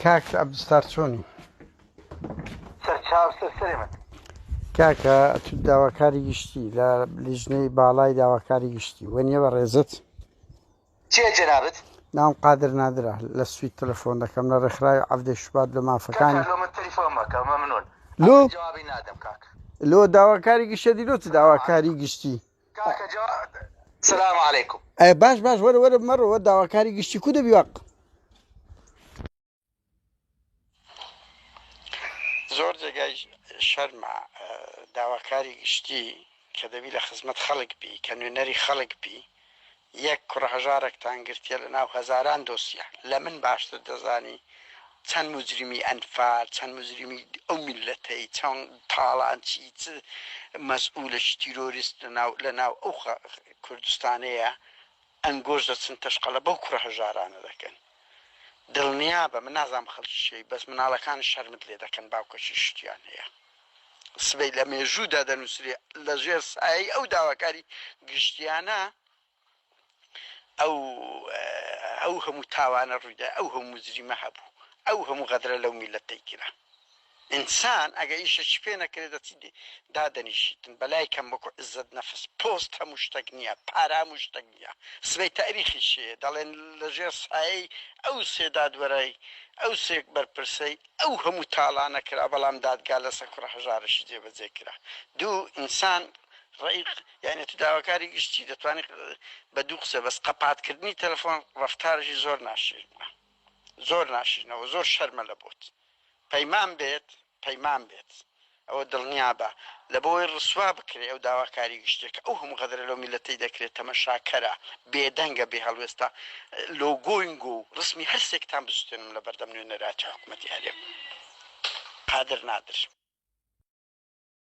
کاک ئەبستار چۆنی کاکە تو داواکاری گشتی لە لیژنەی باڵای داواکاری گشتی وە نیە بە ڕێزت چێ جەنابەت ناوم قادر نادرا لە سویت تەلەفۆن دەکەم لە ڕێکخراوی عەفدە شوبات لە مافەکانی لۆ داواکاری گشتە دیلۆ چ داواکاری گشتی کاکە جواد سلام علیکم. ئەی باش باش وەرە وەرە مەڕەوە داواکاری گشتی کو دەبی وەق زۆر جێگای شەرمە داواکاری گشتی کە دەبی لە خزمەت خەڵک بی کە نوێنەری خەڵک بی یەک کوڕە هەژارەکتان گرتیە لە ناو هەزاران دۆسیە لە من باشتر دەزانی چەند موجریمی ئەنفال چەند موجریمی ئەو میللەتەی چەند تاڵان چی چ مەسئولەکی تیرۆریست لە ناو لە ناو ئەو کوردستانەیە ئەنگۆش دەچن تەشقەلە بەو کوڕە هەژارانە دەکەن دڵنیابە من نازانم خەڵکی کێی بەس مناڵەکانت شەرمت لێ دەکەن باوکەکی شتیان هەیە. سبەی لە مێژوودا دەنووسرێ لە ژێر سایەی ئەو داواکاری گشتیانە ئەو ئەو هەموو تاوانە ڕوویدا ئەو هەموو مجریمە هەبوو ئەو هەموو غەدرە لەو میلەتەی کرا ئینسان ئەگە ئیشەکی پێ نەکرێت دەچی دادەنیشیتن بەلای کەم وەکو عزت نەفس پۆست هەموو شتەک نییە پارە هەموو شتەک نییە سبەی تاریخی شێ دەڵێن لەژێر سایەی ئەو سێ دادوەرای ئەو سێک بەرپرسەی ئەو هەموو تاڵانە کرا بەڵام دادگا لەسەر کوڕە هەژارەشی جێبەجێ کرا دوو ئینسان ڕەئیق یانی تو داواکاری گشتی دەتوانی بە دوو قسە بەس قەپات کردنی تەلەفۆن ڕەفتارەشی زۆر ناشرینە زۆر ناشرینە و زۆر شەرمە لە بۆت پەیمان بێت پەیمان بێت ئەوە دڵنیابە لەبەوەی ڕسوا بکرێ ئەو داواکاری گشتیەکە ئەو هەموو غەدرە لەو میلەتەی دەکرێ تەمەشاکەرە بێدەنگە بێ هەڵوێستە لۆگۆینگۆ و ڕسمی هەر سێکتان بسوتێنم لەبەردەم نوێنەراتی حکومەتی هەرێم قادر نادر.